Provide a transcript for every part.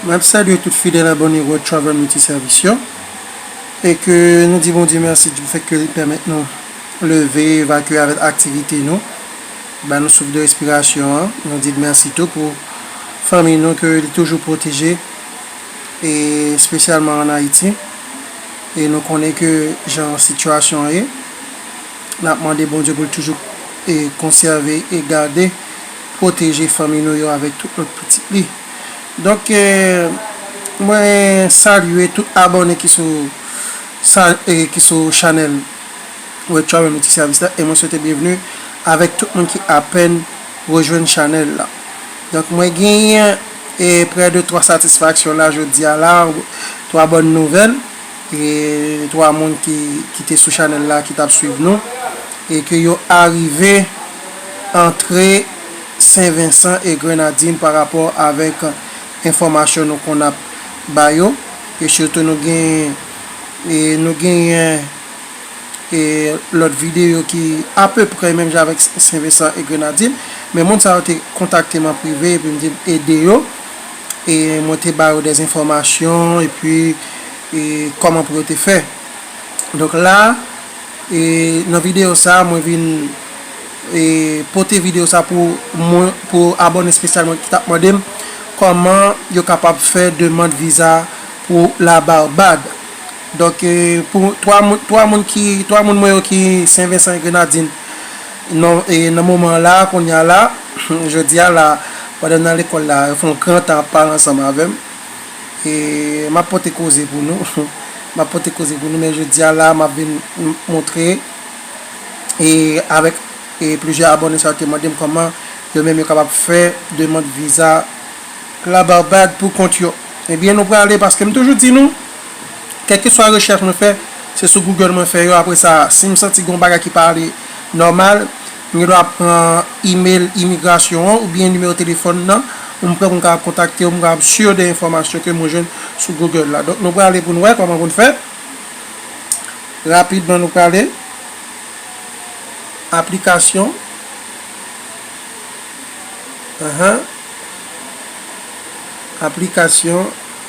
Mwen ap salye tout fidèl abòne World Travel Multi Service yo e ke nou di Bondye mèsi di fèt ke li pèmèt nou leve, evakye avèk aktivite nou. Ba nou souf de respirasyon an. Nou di l mèsi tou pou fanmiy nou ke li toujou pwoteje e spesyalman an Ayiti. E nou konnen ke jan sitiyasyon an ye. N ap mande Bondye pou l toujou e konsève e gade, pwoteje fanmiy nou yo avèk tout lòt pitit li. Donk e mwen salye tout abòne ki sou sa e ki sou chanèl. Mwen tchwa menm ti sèvis la e mwen swete byenvni avèk tout moun ki apèn rejwenn chanèl la. Donk mwen genyen e prè de 3 satisfaksyon la jodi a la, 3 bòn nouvèl e 3 moun ki ki te sou chanèl la ki t ap swiv nou e ke yo arive antre Sen Vensan e Grenadin pa rapò avèk enfòmasyon nou konn ap ba yo e sitou nou gen e nou genyen e lòt videyo ki apeprè menm jan avèk Sen Vensan e Grenadin, men moun sa yo te kontakte m an prive epi m di m ede yo, e mwen te ba yo dè enfòmasyon epi e kòman pou yo te fè. Donk la a e nan videyo sa a mwen vin e pote videyo sa a pou moun pou abòne espesyal mwen ki t ap mande m kòman yo kapab fè demand viza pou la Barbad. Donk pou 3 moun 3 moun ki 3 moun mwen yo ki Sen Vensan e Grenadin non e nan moman an la a kounye a la jodi a la pandan n nan lekòl la yo fè yon gran tan ap pale ansanm avè m e m ap pote koze pou nou m ap pote koze pou nou men jodi a la a m ap vin montre e avèk e plizyè abòne sa yo te mande m kòman yo menm yo kapab fè demand viza la Barbad pou kont yo ebyen nou prale paske m toujou di nou Kèlkeswa rechèch mwen fè, se sou Google mwen fè yo. Apre sa, si m santi gen yon bagay ki pa ale nòmal, m gen dwa pran imel imigrasyon an oubyen nimewo telefòn nan ou m pran pou m kapab kontakte yo, pou m kapab sur de enfòmasyon ke mwen jwenn sou Google la. Donk, nou prale pou nou wè kòman pou n fè. Rapidman, nou prale. Aplikasyon. Ahan. Aplikasyon.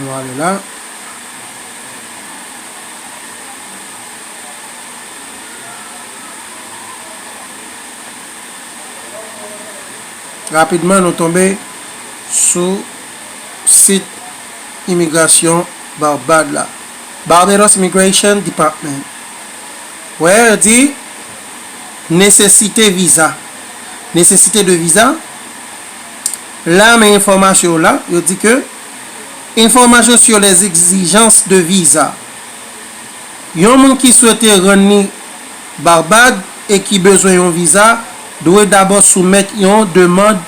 Nou ale la. Rapidman nou tonbe sou sit imigrasyon Barbad la. Barbados Immigration Department. Wè yo di Nesesite viza. Nesesite de viza. La men enfòmasyon w la. Yo di ke. Enfòmasyon sur les exigences de visa Yon moun ki swete rann li Barbad e ki bezwen yon viza dwe dabò soumèt yon demand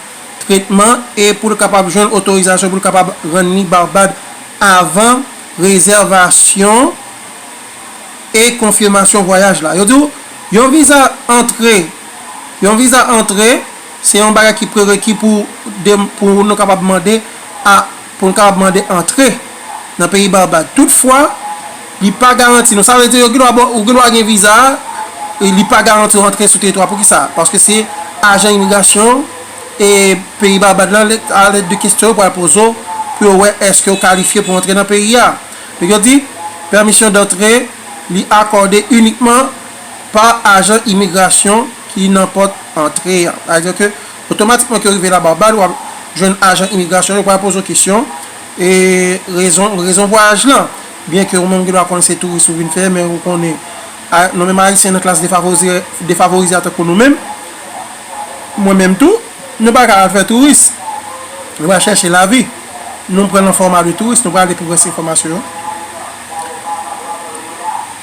tretman e pou l kapab jwenn otorizasyon pou l kapab rann li Barbad avan rezèvasyon e konfimasyon vwayaj la. Yo di w yon viza antre Yon viza antre. Se yon bagay ki prereki pou pou nou kapab mande a pou nou kapab mande antre nan peyi Barbad. Toutfwa, li pa garanti nou. Sa vle di yo gen dwa ba w ou gen dwa gen viza a, e li pa garanti w antre sou teritwa. Pou ki sa? Paske se ajan imigrasyon e peyi Barbad la lè a lèt de kestyon yo pral poze w pou yo wè èske ou kalifye pou antre nan peyi a. Donk yo di, Permission d'entrer li akòde inikman. pa ajan imigrasyon ki nan pòt antre a. Sa vle di ke otomatikman ke w rive la Barbad wap jwenn ajan imigrasyon yo pral poze w kesyon e rezon rezon vwayaj lan. Byen ke ou menm gen dwa konnen se touris ou vin fè men ou konnen a nou menm ayisyen nan klas defavorize defavorize a tankou nou menm mwen menm tou nou pa ka al fè touris nou pral chèche lavi nou pran nan fòma de touris nou pral ale pou rès enfòmasyon yo.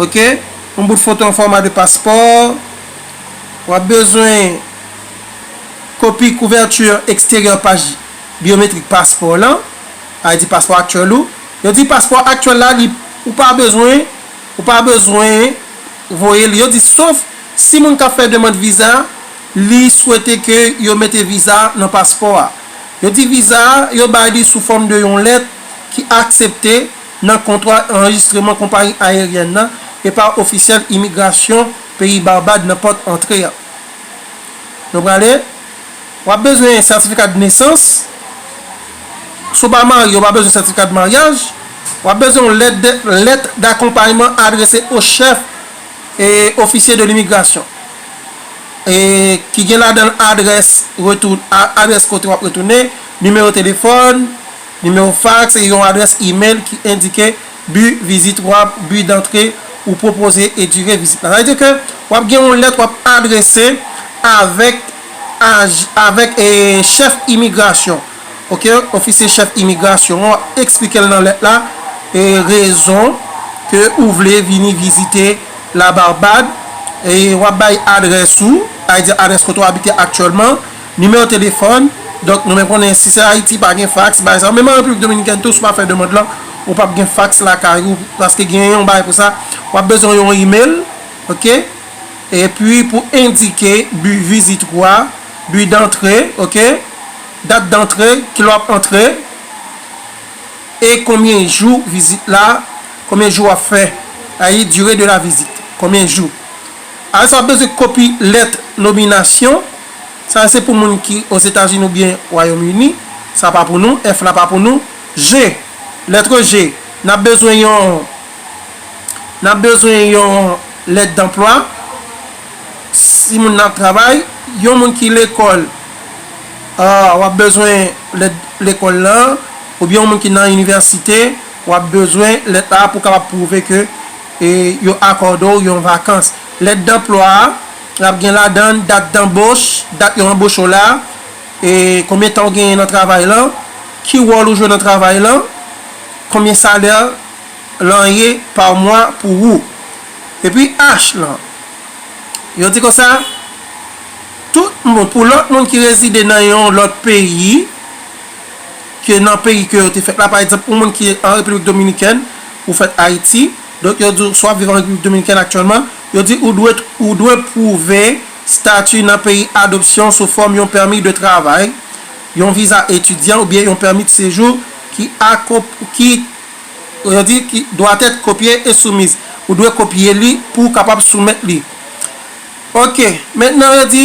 ok yon bout foto an fòma de paspò w ap bezwen kopi kouvèti eksteryè paj byometrik paspò w lan ID paspò aktyèl ou yo di paspò aktyèl la li ou pa bezwen ou pa bezwen voye li yo di sof si moun k ap fè demand viza li swete ke yo mete viza nan paspò a yo di viza a yo bay li sou fòm de yon lèt ki aksepte. nan kontra anrejistreman konpayi ayeryèn nan e pa ofisyèl imigrasyon peyi Barbad nan pòt antre a. Nou prale, w ap bezwen sètifika d'nesans, si w pa marye ou pa bezwen sètifika d'maryaj, w ap bezwen yon lèt de lèt d'akonpayman adrese o chèf e ofisye de l'imigrasyon e ki gen ladan l adrès retou adrès kote w ap retounen, nimewo telefòn, Nimewo faks e yon adrès imel ki endike bi vizit ou a, bi dantre ou pwopoze e dire vizit la. Sa vle di ke w ap gen yon lèt w ap adrese avèk avèk chèf imigrasyon ok, ofisye chèf imigrasyon an w ap eksplike l nan lèt la rezon ke ou vle vini vizite La Barbad e w ap bay adrès ou sa vle di adrès kote w abite aktyèlman Nimewo telefòn, Donk nou men konnen si se Ayiti pa gen faks, bagay sa yo. Menm an Repiblik Dominikèn tou si w ap fè demand lan, ou p ap gen faks lakay ou paske gen yon bagay pou sa. W ap bezwen yon imel, ok, epi pou endike bi vizit ou a, bi dantre, ok, dat dantre, ki lè w ap antre e konbyen jou vizit la, konbyen jou w ap fè, sètadi dire de la vizit, konbyen jou. Apre sa w ap bezwen kopi lèt nominasyon. Sa yo se pou moun ki Ozetazini oubyen Wayòm Ini. Sa pa pou nou. F la pa pou nou. G, Lètre G, N ap bezwen yon N ap bezwen yon lèt danplwa si moun nan ap travay. Yon moun ki lekòl a w ap bezwen lèt lekòl lan oubyen yon moun ki nan inivèsite w ap bezwen lèt la pou w kapab pwouve ke E yo akòde w yon vakans. Lèt danplwa a ap gen ladan l dat danboch, dat yo anboche w la, e konbyen tan ou genyen nan travay lan, ki wòl ou jwe nan travay lan, konbyen salè lan ye pa mwa pou wou. Epi H lan. Yo di konsa, Tout moun, pou lòt moun ki rezide nan yon lòt peyi, ke nan peyi ke yo te fèt la, pa egzanp, yon moun ki an Repiblik Dominikèn, ou fèt Ayiti, donk yo di w, swa w viv an Repiblik Dominikèn aktyèlman, yo di ou dwe, ou dwe pwouve stati nan peyi adopsyon sou fòm yon pèmi de travay, yon viza etidyan oubyen yon pèmi de sejou ki a, ki, yo di, ki doit être copié et soumis, ou dwe kopye li pou w kapab soumèt li. Ok, mentnan yo di.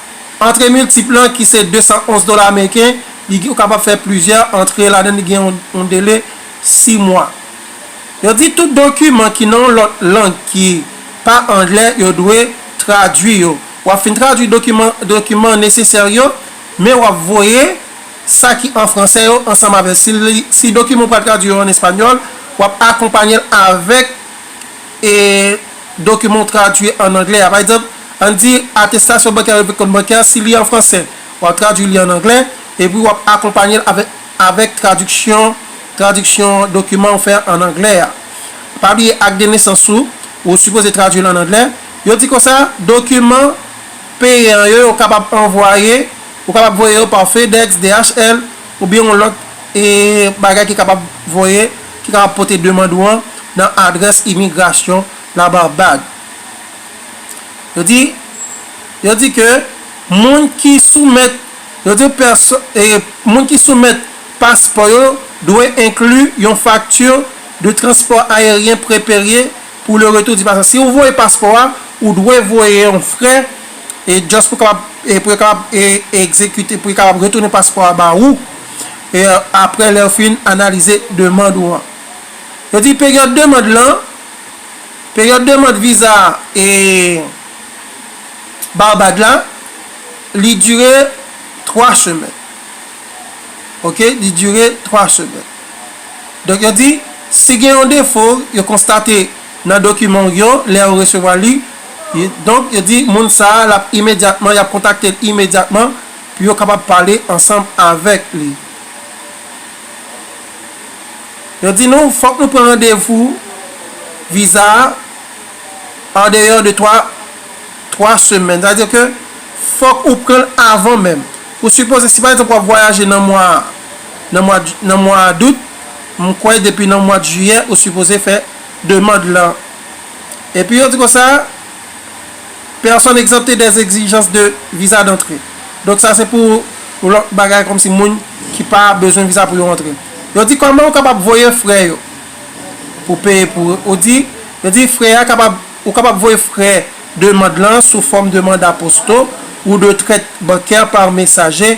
Antre miltip lan ki se 211 dola ameriken, li gen ou kapab fè plizyè antre ladan li gen yon dele 6 mwa. Yo di tout dokiman ki nan yon lòt lang ki pa anglè yo dwe tradui yo. W ap fin tradui dokiman dokiman nesesè yo, men w ap voye sa ki an fransè yo ansanm avè l. Si li si dokiman ou pral tradui yo an espanyòl, w ap akonpanye l avèk. E dokiman ou tradui an anglè a. Pa egzanp, ann di atestasyon bankè revni kont bankè a, si li an fransè, w ap tradui li an anglè, epi w ap akonpanye l avèk avèk tradiksyon tradiksyon dokiman ou fè an anglè a. Pa bliye ak de nesans ou, ou sipoze tradui l an anglè. Yo di konsa, dokiman peyan yo, yo kapab anvwaye, ou kapab voye yo pa FedEx, DHL. oubyen yon lòt bagay ki kapab voye, ki kapab pote demand ou an nan adrès imigrasyon La Barbad. Yo di, yo di ke moun ki soumèt, yo di pèsòn, moun ki soumèt paspò yo dwe enkli yon fakti de transpò aeryen preperye, Pou le retour di passe si ou voye paspò a ou dwe voye yon frè e just pou kapab e pou yo kapab e egzekite pou yo kapab retounen paspò a ba ou e aprè lè yo fin analize demand ou an. Yo di peryòd demand lan peryòd demand viza e Barbad la li dire 3 semèn ok li dire 3 semèn. Donk yo di, si gen yon defo yo konstate nan dokiman w yo lè yo resevwa li, donk yo di moun sa a l ap imedyatman, y ap kontakte l imedyatman pou yo kapab pale ansanm avèk li. Yo di nou fòk nou pran randevou viza a andeyò de twa twa semèn. Sa vle di ke fòk ou pran l avan menm. Pou sipoze si pa egzanp w ap vwayaje nan mwa. nan mwa nan mwa dout m kwè depi nan mwad jiyè ou sipoze fè demand lan epi yo di konsa personnes exemptées des exigences de visa d'entrée donk sa se pou lòt bagay kòmsi moun ki pa bezwen visa pou yo antre yo di kòman ou kapab voye frè yo pou peye pou ou di yo di frè a kapab ou kapab voye frè demand lan sou fòm demand aposto ou de trèt bankè par mesaje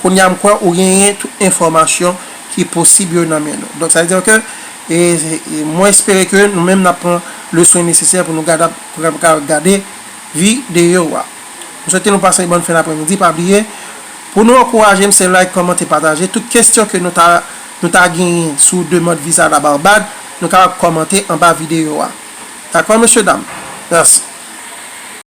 Kounye a m kwè ou genyen tout enfòmasyon ki posib yo nan men nou. Donk sa vle di ke mwen espere ke nou menm n ap pran le swen nesesè pou nou gadab pou nou kapab gade vi de yo a. M swete nou pase yon bòn fen apremidi. Pa bliye pou nou ankouraje m se like, kòmante, pataje. Tout kesyon ke nou ta nou ta genyen sou demand viza la Barbad nou kapab kòmante anba videyo a. Dakò mesye dam? Mèsi.